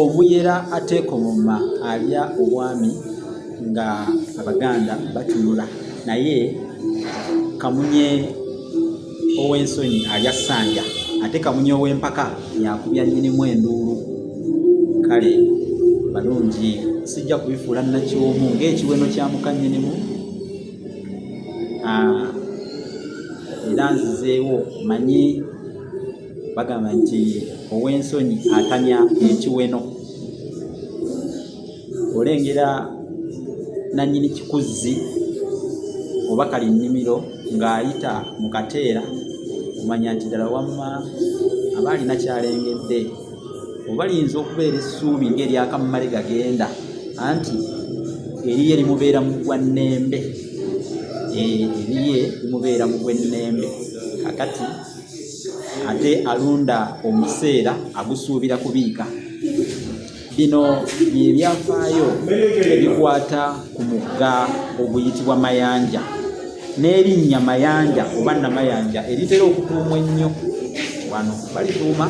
omuyera ateekomoma alya obwami nga abaganda batunula naye kamunye ow'ensonyi alya ssanja ate kamunye ow'empaka yakubya nyinimu enduulu kale balungi sijja kubifuula nakyomu ng'ekiweno kya muka nyinimu ah, era nzizeewo manyi bagamba nti ow'ensonyi atamya ekiweno olengera nanyini kikuzzi oba kali nnimiro ng'ayita mu kateera omanya nti ddala wamma aba alina kyalengedde oba liyinza okubeera essuubi ng'eryakammale gagenda anti eriye limubeera mu gwannembe eriye limubeera mu gwennembe kakati ate alonda omuseera agusuubira kubiika bino byebyafaayo ebikwata ku mugga oguyitibwa mayanja n'erinnya mayanja oba namayanja eritera okutuumwa ennyo wano balituuma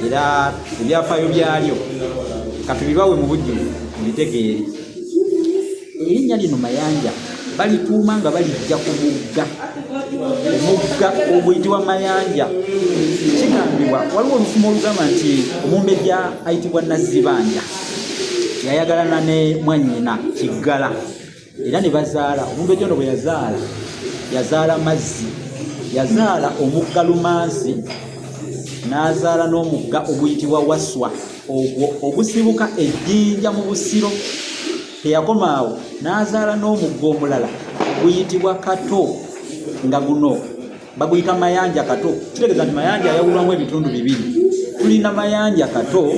era ebyafaayo byalyo katubibawe mu bujjuvu mubitegeere erinnya lino mayanja balituuma nga balijja ku mugga omugga oguyitibwa mayanja kigambibwa waliwo olufumu olugamba nti omumbejja ayitibwa nazzibanja yayagalana ne mwanyina kiggala era ne bazaala omumbejja ono bwe yazaala yazaala mazzi yazaala omugga lumansi n'azaala n'omugga oguyitibwa waswa ogwo ogusibuka ejjinja mu busiro teyakomaawo n'azaala n'omugga omulala oguyitibwa kato nga guno baguyita mayanja kato kitegeeza nti mayanja ayawulwamu ebitundu bibiri tulina mayanja kato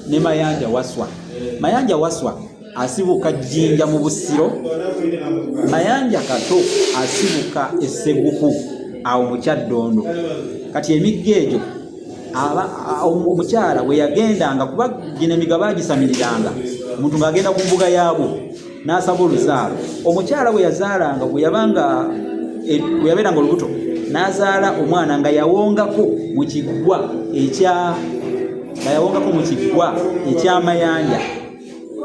ne mayanja waswa mayanja waswa asibuka jjinja mu busiro mayanja kato asibuka esseguku awo mukyaddondo kati emigga egyo omukyala bwe yagendanga kuba gino emigga bagisamiriranga omuntu ng'agenda ku mbuga yaabwo n'asaba oluzaalo omukyala bwe yazaalanga bwe yabanga e, bwe yabeeranga olubuto n'azaala omwana nga yawongako mu kiggwa ekya nga yawongako mu kiggwa ekyamayanja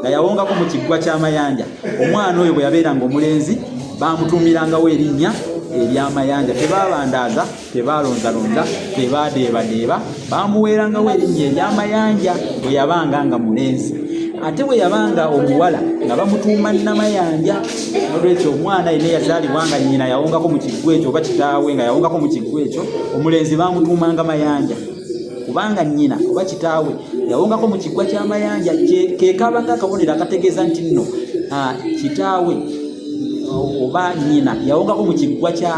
nga yawongako mu kiggwa ky'amayanja omwana oyo bwe yabeeranga omulenzi baamutuumirangawo erinnya eryamayanja tebabandaaza tebaalonzalonza tebaadeebadeeba baamuweerangawo erinnya eryamayanja bwe yabanga nga mulenzi ate bwe yabanga omuwala nga bamutuuma namayanja nolwekyo omwana yena yazaalibwa nga nyina yawongako mu kiggwa ekyo oba kitaawe nga yawongako mu kiggwa ekyo omulenzi baamutuumanga mayanja kubanga nnyina oba kitaawe yawongako mu kiggwa ky'amayanja kekabanga akabonero akategeeza nti nno kitaawe oba nnyina yawongako mu kiggwa kya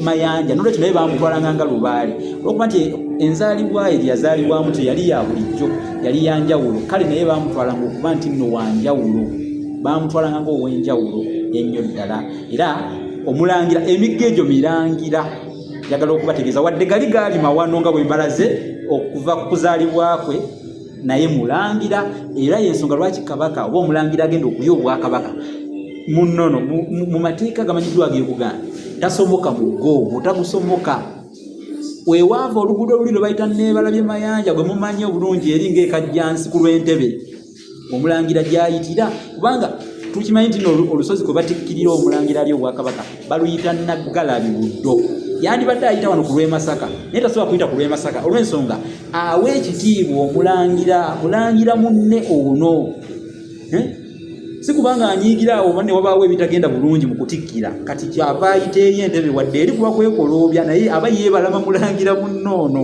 mayanja nolwekyo naye bamutwalanga nga lubaale olwokuba nti enzaalibwa ye gyeyazaalibwamu teyali ya bulijjo yali ya njawulo kale naye bamutwalanga okuba nti nno wa njawulo bamutwalanga ngaow'enjawulo ennyo ddala era omulangira emigga egyo mirangira njagala okubategeeza wadde gali gaali mawano nga bwe mbalaze okuva ku kuzaalibwa kwe naye mulangira era yensonga lwaki kabaka oba omulangira agenda okuya obwakabaka munono mu mateeka gamanyiddwa ag'ebuganda tasomoka mugo mutagusomoka wewaava oluguudo luli lwe bayita nebalabye mayanja gwe mumanyi obulungi eri ngaekajjansi ku lw'entebe omulangira gyayitira kubanga tukimanyi nti olusozi kwe batikkirira omulangira ali obwakabaka baluyita naggalabi buddo yandibadde ayita wano ku lwemasaka naye tasobola kuyita ku lwemasaka olwensonga awa ekitiibwa omulangira mulangira munne ono eh? si kubanga anyiigira awo oba ne wabaawo ebitagenda bulungi mu kutikkira kati kyava ayita eri entebe wadde eri kuba kwekoloobya naye aba yeebalama mulangira munne ono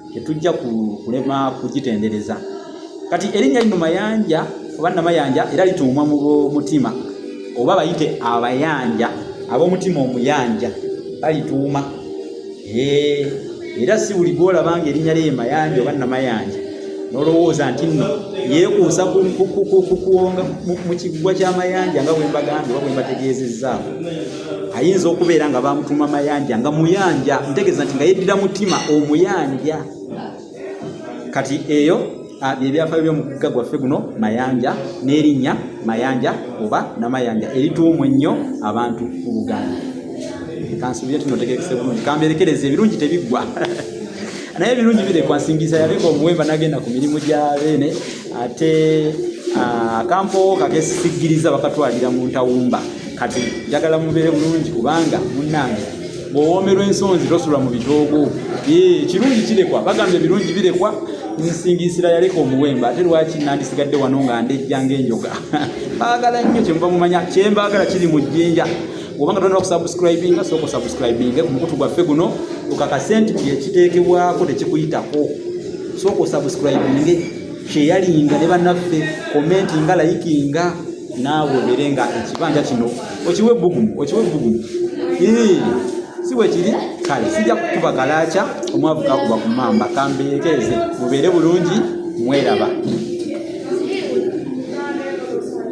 tetujja kulema kugitendereza kati erinnya lino mayanja oba namayanja era lituumwa mu mutima oba bayite abayanja ab'omutima omuyanja balituuma era si buli gwolaba nga erinnya lye mayanja oba namayanja nolowooza nti nno yeekuusa kuwonga mu kiggwa ky'amayanja nga bwembagambye oba bwembategeezezzaako ayinza okubeera nga bamutuma mayanja nga muyanja ntegeeza nti nga yeddira mutima omuyanja kati eyo byebyafaayo byomugga gwaffe guno mayanja n'erinnya mayanja oba namayanja erituumu ennyo abantu mu buganda kansuubire nti notegerekese bulungi kamberekereza ebirungi tebiggwa naye ebirungi birekwa nsingiza yaleka omuwemba nagenda ku mirimu gya beene ate ah, akampowo kakesisigiriza bakatwalira mu ntawumba kati njagala mubeere bulungi kubanga munnange bw'owoomerwa ensonzi tosula mu bitoogo ekirungi kirekwa bagamba ebirungi birekwa nsingisira yaleka omuwemba ate lwaki nandisigadde wano nga ndejja ng'enjoga baagala nnyo kyemuba mumanya kyembaagala kiri mu jjinja oba nga tonaba kusubscribinga sooka osubscribinge ku mukutu gwaffe guno okakase nti buli ekiteekebwako tekikuyitako sooka osubscribinge kyeyalinga ne banaffe komenti nga layikinga naawe obeere nga ekibanja kino okiwe ebbugumu okiwe ebbugumu si bwekiri kale sijja kukuba kalaakya omwavu kakuba ku mamba kambeekeeze mubeere bulungi mweraba